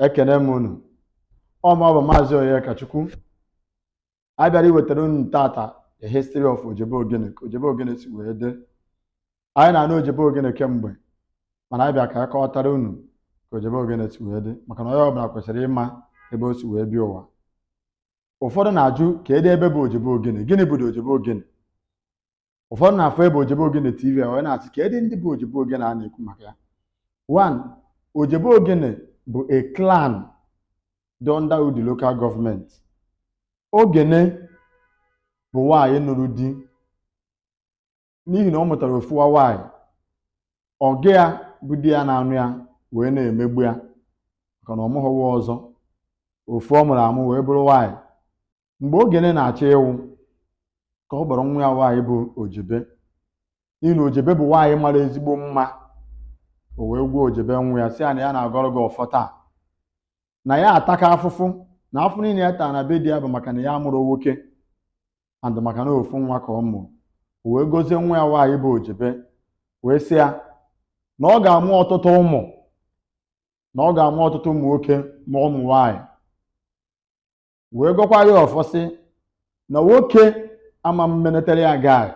ekene m unu ọma bụ maazị Onyekachukwu anyị bịara iwetara unu tata the history of Ojebe Ogene ka Ojebe Ogene si wee dị anyị na-anụ Ojebe Ogene kemgbe mana anyị bịa ka anyị kọwatara unu ka Ojebe Ogene si wee dị maka na onye ọbụla kwesịrị ịma ebe o si wee bịa ụwa ụfọdụ na-ajụ kedu ebe bụ Ojebe Ogene gịnị bụ Ojebe Ogene ụfọdụ na-afụ ebe ojebe ogene tv a wee na-asị kedu ndị bụ ojebe ogene a na-ekwu maka ya one ojebe ogene bụ a clan dị under Udi local government ogene bụ nwaanyị nụrụ di n'ihi na ọ mụtara ofu nwa nwaanyị ọga ya bụ di ya na-anụ ya wee na-emegbu ya maka na ọ mụghịwa ọzọ ofu ọ mụrụ amụ wee bụrụ nwaanyị mgbe ogene na-achọ ịnwụ ka ọ kpọrọ nwa ya nwaanyị bụ ojebe n'ihi na ojebe bụ nwaanyị mara ezigbo mma o wee gwa ojebe nwa ya sị ya na ya na-agọrọ gị ọfọ taa na ya ataka afụfụ na afụfụ niile ya tara na be di ya bụ maka na ya amụrọ nwoke and maka na ofu nwa ka ọ mụrụ o wee gozie nwa ya nwaanyị bụ ojebe wee sị ya na ọ ga-amụ ọtụtụ ụmụ na ọ ga-amụ ọtụtụ ụmụ nwoke ma ụmụ nwaanyị wee gọkwa ya ọfọ sị na nwoke ama m menetere ya gaa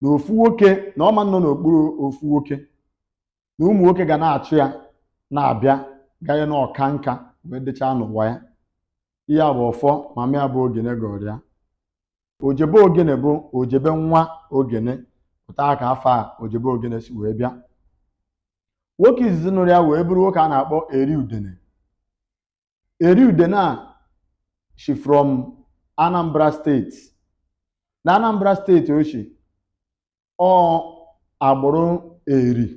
na ofu nwoke na ọ ma-anọ n'okpuru ofu nwoke na ụmụ nwoke ga na-achụ ya na-abịa ganye na ọ kaa nka wee dịchaa n'ụwa ya ihe a bụ ọfọ mama ya bụ ogene gọrọ ya ojebe ogene bụ ojebe nwa ogene otu a ka afa ojebe ogene si wee bịa nwoke izizi nụrụ ya wee bụrụ nwoke a na-akpọ eri udene eri udene a shi from anambra state na anambra state o shi ọ agbụrụ eri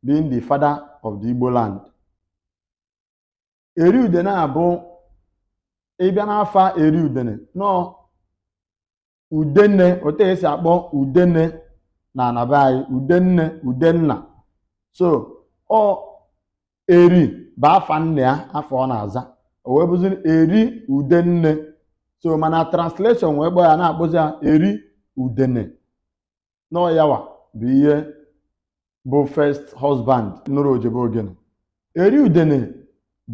being the father of the igbo land eri udene a bụ ị bịa n'afa eri udene nọ udene otu e si akpọ udene na ana be anyị udenne udenna so ọ eri bụ afa nne ya afa ọ na-aza o wee bụzi eri udenne so mana translation wee kpọọ ya na-akpọzi ya eri udene na ọ yawa bụ ihe bụ first husband nụrụ ojebe ogene eri udene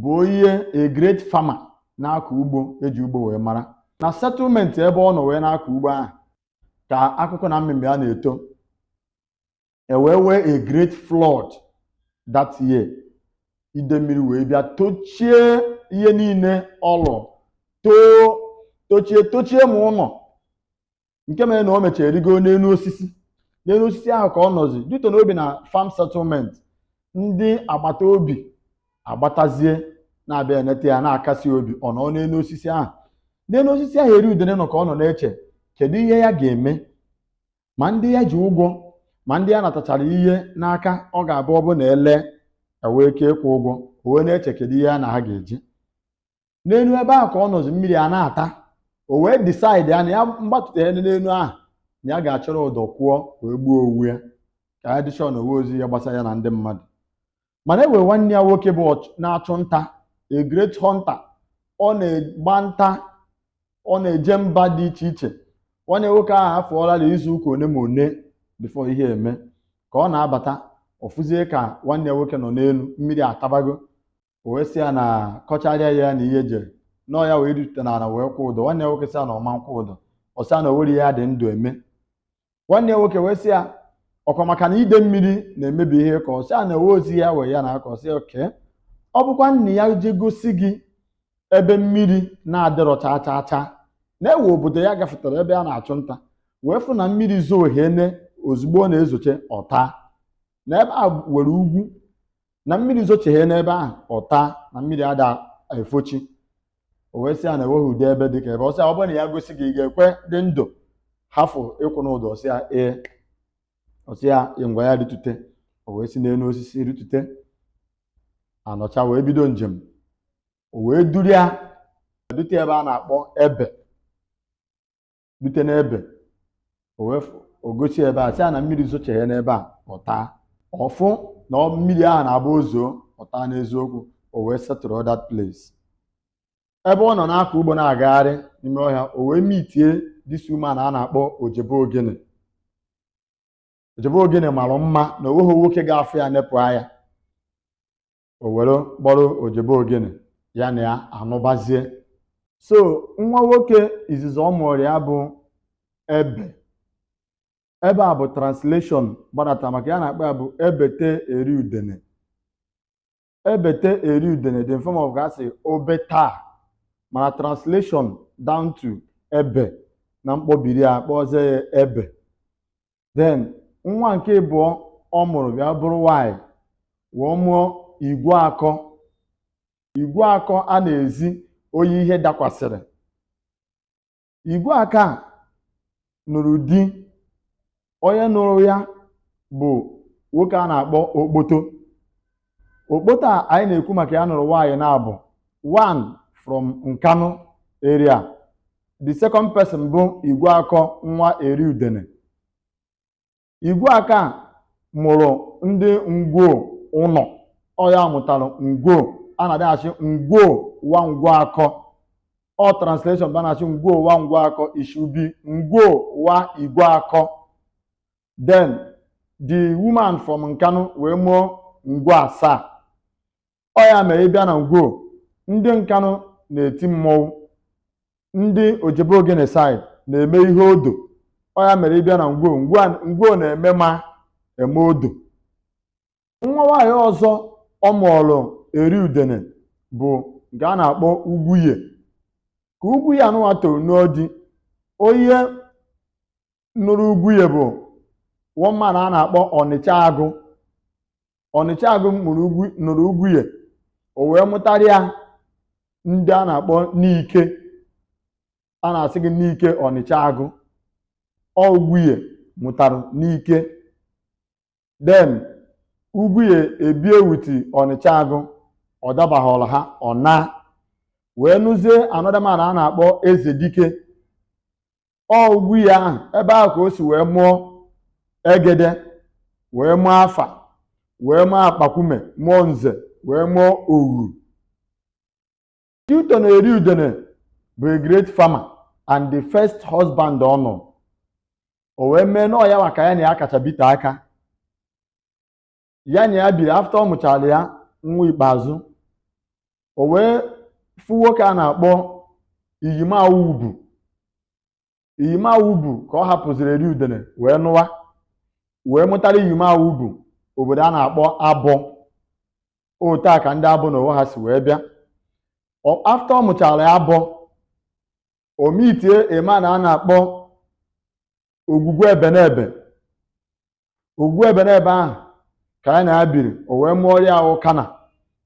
bụ onye a great farmer na-akọ ugbo e ji ugbo wee mara na settlement ebe ọ nọ wee na-akọ ugbo ahụ ka akụkụ na mmemme ya na-eto e wee nwee a great flood that year ide mmiri wee bịa tochie ihe niile ọ lụ too tochie tochie ma ụlọ nke mere na o mechara rigo n'enu osisi n'enu osisi ahụ ka ọ nọzi dute n'obi na farm settlement ndị agbata obi agbatazie na-abịa eneta ya na-akasi obi ọ nọ n'enu osisi ahụ n'enu osisi ahụ eri udene nọ ka ọ nọ na-eche kedu ihe ya ga-eme ma ndị ya ji ụgwọ ma ndị ya natachara ihe n'aka ọ ga-abụ ọ bụ na ele ewee ike ịkwụ ụgwọ o wee na-eche kedu ihe ya na ha ga-eji n'enu ebe ahụ ka ọ nọzi mmiri a na-ata o wee decide ya na ya mgbatụta ya n'enu ahụ na ya ga-achọrọ ụdọ kwụọ wee gbuo onwe ya ka ya dị sure na o nweozi ihe gbasara ya na ndị mmadụ mana e nwee nwanne ya nwoke bụ ọch- na-achụ nta a great hunter ọ na-agba nta ọ na-eje mba dị iche iche nwanne nwoke ahụ afọọla na izu ụka one ma one before ihe eme ka ọ na-abata ọ fụzie ka nwanne ya nwoke nọ n'enu mmiri atabago o wee sị ya na kọcharịa ya na ihe jere na ọ ya wee rute n'ala wee kwụ ụdọ nwanne ya nwoke sị ya na ọ ma nkwụ ụdọ ọ sị ya na o nwere ihe ya dị ndụ eme nwanne ya nwoke wee sị ya ọkwa maka na ide mmiri na-emebi ihe ka ọ sị ya na ewe ozi ya wee ya na aka ọ sị ya okay ọ bụkwanụ ya je gosi gị ebe mmiri na-adịrọ chaa chaa chaa na e nwee obodo ya gafetara ebe a na-achụ nta wee fụ na mmiri zoo hene ozugbo ọ na-ezoche ọ taa na ebe a nwere ugwu na mmiri zocheghe n'ebe ahụ ọ taa na mmiri ada efochi o wee sị ya na enweghị ụdị ebe dị ka ebe ọ sị ya ọ bụrụ na ya gosi gị ị ga-ekwe dị ndụ hafụ ịkwụ n'ụdọ ọ sị ya ee ọ sị ya ngwa ya ritute o wee si n'enu osisi ritute anọcha wee bido njem o wee duru ya dute ebe a na-akpọ ebe dute n'ebe o wee fụ- o gosi ebe a sị ya na mmiri zocheghe n'ebe a ọ taa ọ fụ na ọ- mmiri ahụ na-abụ o zoo ọ taa n'eziokwu o wee settle that place ebe ọ nọ na-akọ ugbo na-agagharị n'ime ọhịa o wee meetie this woman a na-akpọ ojebe ogene ojebe ogene mara mma na o nweghị nwoke ga-afụ ya nepụ anya o were kpọrọ ojebe ogene ya na ya anụbazie so nwa nwoke izizi ọ mụrụ ya bụ ebe ebe a bụ translation gbadata maka ihe a na-akpọ ya bụ ebete eri udene ebete eri udene dị in form of ga-asị obeta mana translation down to ebe na mkpọbiri a kpọzie ya ebe then nwa nke ịbụọ ọ mụrụ bịa bụrụ nwanyị wee mụọ igwe akọ igwe akọ a na-ezi onye ihe dakwasịrị igwe akọ a nụrụ di onye nụrụ ya bụ nwoke a na-akpọ okpoto okpoto a anyị na-ekwu maka ya nụrụ nwaanyị naabọ one from nkanu area the second person bụ igwe akọ nwa eri udene igwe akọ a mụrụ ndị ngwo ụlọ ọ ya mụtara ngwo a na-adịghachi ngwo wa ngwo akọ ọ translation bụ a na-asị ngwo wa ngwo akọ it should be ngwo wa igwe akọ then the woman from nkanụ wee mụọ ngwo asaa ọ ya mere ị bịa na ngwo ndị nkanụ na-eti mmọnwụ ndị ojebe ogene side na-eme ihe odo ọ ya mere ị bịa na ngwo ngwo a- ngwo na-eme ma eme odo nwa nwaanyị ọzọ ọ mụọlụ eri udene bụ nke a na-akpọ ugwunye ka ugwunye anụwa toro n'odi onye nụrụ ugwunye bụ one man a na-akpọ ọnịcha agụ ọnịcha agụ mụrụ ugwu nụrụ ugwunye o wee mụtara ya ndị a na-akpọ nike a na-asị gị nike ọnịcha agụ ọ ugwunye mụtara nike then ugwunye ebie with ọnịcha agụ ọ dabaghọrọ ha ọ naa wee nụzie another man a na-akpọ eze dike ọ ugwunye ahụ ebe ahụ ka o si wee mụọ egede wee mụọ afa wee mụọ akpakwume mụọ nze wee mụọ oghu note na eri udene bụ a great farmer and the first husband ọ nụ o wee mee na ọ ya nwa ka ya na ya kacha bite aka ya na ya biri after ọ mụchara ya nwa ikpeazụ o wee fụ nwoke a na-akpọ iyime awubu iyime awubu ka ọ hapụziri eri udene wee nụwa wee mụtara iyime awubu obodo a na-akpọ abọ otu a ka ndị abọ na onwe ha si wee bịa Ọ- after ọ mụchara ya abọ o meetie a man a na-akpọ ogwugwu ebenebe ogwugwu ebenebe ahụ ka ya na ya biri o wee mụọrọ ya ukana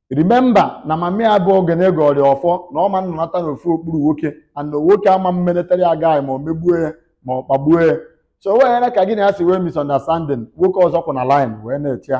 remember na mama ya bụ ogene gọọrọ ya ọfọ na ọ ma nnọnata n'ofu okpuru nwoke and na nwoke ama mmenetara ya gaghị ma o megbuo ya ma ọ kpagbuo ya so o weghara ka gị na ya si wee misunderstanding nwoke ọzọ kwụ na line wee na-eche ya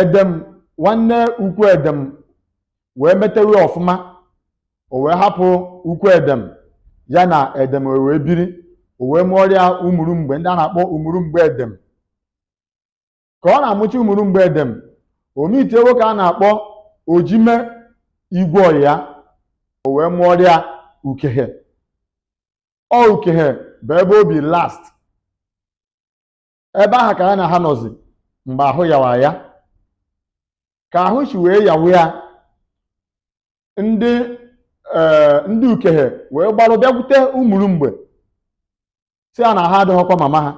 edem nwanne ukwu edem wee metewe ọfụma o wee hapụ ukwu edem ya na edem wee biri o wee mụọrọ ya umulumgbe ndị a na-akpọ umulumgbe edem ka ọ na-amụcha umulumgbe edem o meetie nwoke a na-akpọ ojime igwe ọnyị ya o wee mụọrọ ya ukehe ọ ukehe bụ ebe o bi last ebe ahụ ka ya na ha nọzi mgbe ahụ yawa ya ka ahụ si wee yawa ya ndị ee ndị ukehe wee gbarụ bịakwute umurumgbe sị ya na aha adịghọkwa mama ha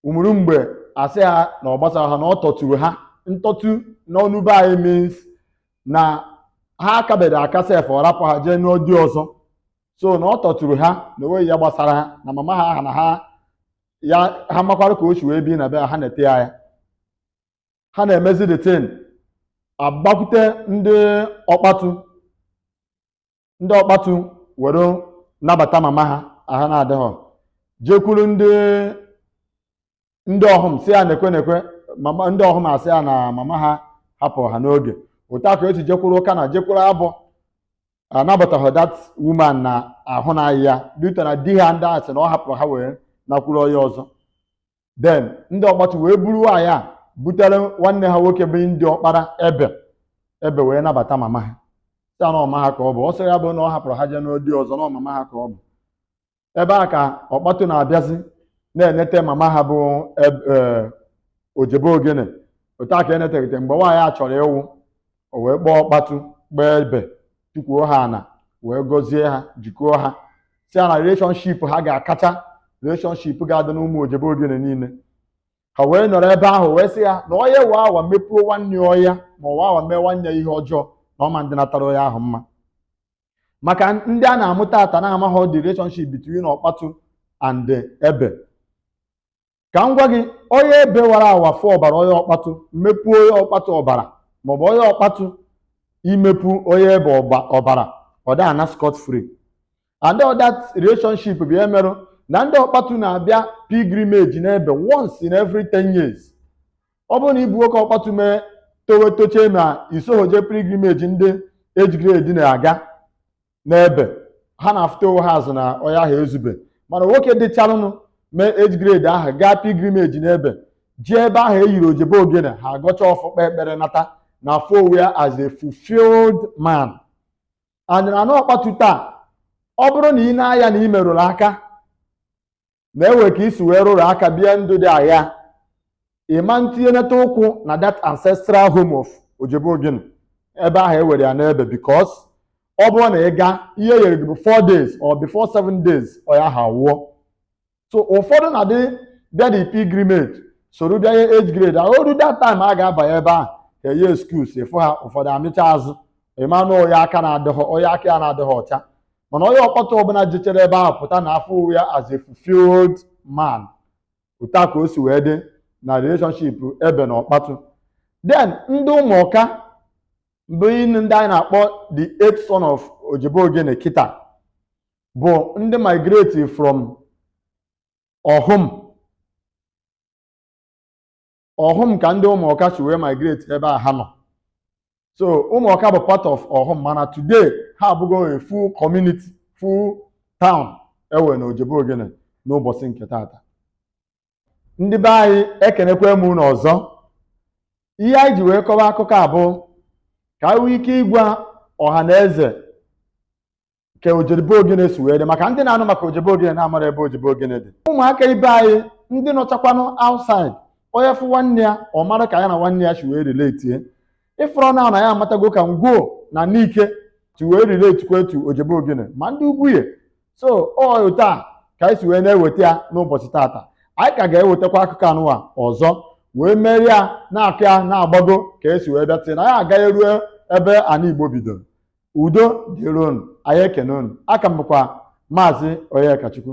umurumgbe asị ha na ọ gbasara ha na ọ tọturu ha ntọtu n'ọnụ be anyị means na ha akabere aka sef ọ rapụ ha jee nụọ di ọzọ so na ọ tọturu ha na o nweghị ya gbasara ha na mama ha aha na ha ya ha makwara ka o si wee bi na be ha ha na-enete ya ya ha na-emezi the thing agbakwute ndị ọkpatu ndị ọkpatu were nabata mama ha aha na-adịghọ jekwuru ndị ndị ọhụm sị ya nekwe nekwe mama ndị ọhụm asị ya na mama ha hapụrụ ha n'oge otu a ka e si jekwuru ụkana jekwuru abọ anabataghị that woman na ahụ na-aya due to na di ha ndị a sị na ọ hapụrụ ha wee nakwuru onye ọzọ then ndị ọkpatu wee buru nwaanyị a butere nwanne ha nwoke bụ ndị ọkpara ebe ebe wee nabata mama ha sị na ọ mama ha ka ọ bụ ọ sọ ya bụ na ọ hapụrụ ha jee nụọ di ọzọ na ọ mama ha ka ọ bụ ebe a ka ọkpatu na-abịazi na-enete mama ha bụ eb- eh, ojebe ogene otu a ka e netegide mgbe nwaanyị a chọrọ ịwụ o wee kpọọ ọkpatu gbaa ebe tukwuo ha ana wee gọzie ha jikọọ ha sị ya na relationship ha ga-akacha relationship ga-adị n'ụmụ ojebe ogene niile ha wee nọrọ ebe ahụ wee sị ya na onye waa awa mepuo nwanne ọya ma ọ waa awa mee nwanne ya ihe ọjọọ na ọ ma adịnatara onye ahụ mma maka ndị a na-amụta taa na-amaghị the relationship between ọkpatụ and ebe ka m gwa gị onye ebe wara awa fụ ọbara onye ọkpatụ mepu onye ọkpatụ ọbara maọbụ onye ọkpatụ imepu onye ebe ọba- ọbara ọ da ana scot free and all that relationship bụ ihe merụ na ndị ọkpatụ na-abịa pilgrimage n'ebe once in every 10 years ọ bụrụ na ị bụ nwoke ọkpatu mee towe tochee ma i sohọ jee pilgrimage ndị age grade na-aga n'ebe ha na-afụta onwe ha azụ na onye ahụ ezube mana nwoke dịcharụnụ mee age grade ahụ gaa pilgrimage n'ebe jee ebe ahụ e yiri ojebe ogene ha agọcha ọfọ kpee ekpere nata na-afụ onwe ya as a fulfilled man and na ọkpatu taa ọ bụrụ na ị na-aya na ị merụrụ aka na e nwe ka i si wee rụrụ aka bịa ndụ dị agha ị ma etinyenata ụkwụ na that ancestral home of ojebe ogene ebe ahụ e were ya n'ebe because ọ bụrụ na ị gaa ihe e yere gị bụ 4 days or before 7 days onye aha wụọ so ụfọdụ na-adị bịa the pilgrimage soro bịa ihe age grade ahụ o ruo that time a ga-abanye ebe ahụ ka enye excuse ị fụ ha ụfọdụ amịcha azụ ị manụ onye aka na-adịghị onye aka ya na-adịghị ọcha mana onye ọkpatụ ọbụla jechere ebe ahụ pụta na-afụ onwe ya as a fulfilled man otu a ka o si wee dị na relationship ebe na ọkpatụ then ndị ụmụọka bụ ndị anyị na-akpọ the eighth son of ojebe ogene kịta bụ ndị migrate from ọhụm ọhụm ka ndị ụmụọka si wee migrate ebe a ha nọ so ụmụọka bụ part of ọhụm mana today ha abụgo a full community full town e nwe na ojebe ogene n'ụbọchị nke taata ndị be anyị ekenekwa m unu ọzọ ihe anyị ji wee kọwa akụkọ a bụ ka anyị nwee ike ịgwa ọha na eze ka ojebe ogene si wee dị maka ndị na-anụ maka ojebe ogene na amarọ ebe ojebe ogene dị ụmụaka ibe anyị ndị nọchakwanụ outside onye fụ nwanne ya ọ mara ka ya na nwanne ya si wee relate ị fụrụ na anyị amatago ka ngwo na nike si wee relatekwa to ojebe ogene ma ndị ugwunye so ọ otu a ka anyị si wee na-eweta ya n'ụbọchị taata anyị ka ga-ewetakwa akụkọ anụwa ọzọ wee merie ya na-akọ ya na-agbago ka e si wee bịa tinye na ya agaghị ruo ebe ana igbo bidoro udo dịrị unu anyị ekene unu aka m bụkwa maazị Onyekachukwu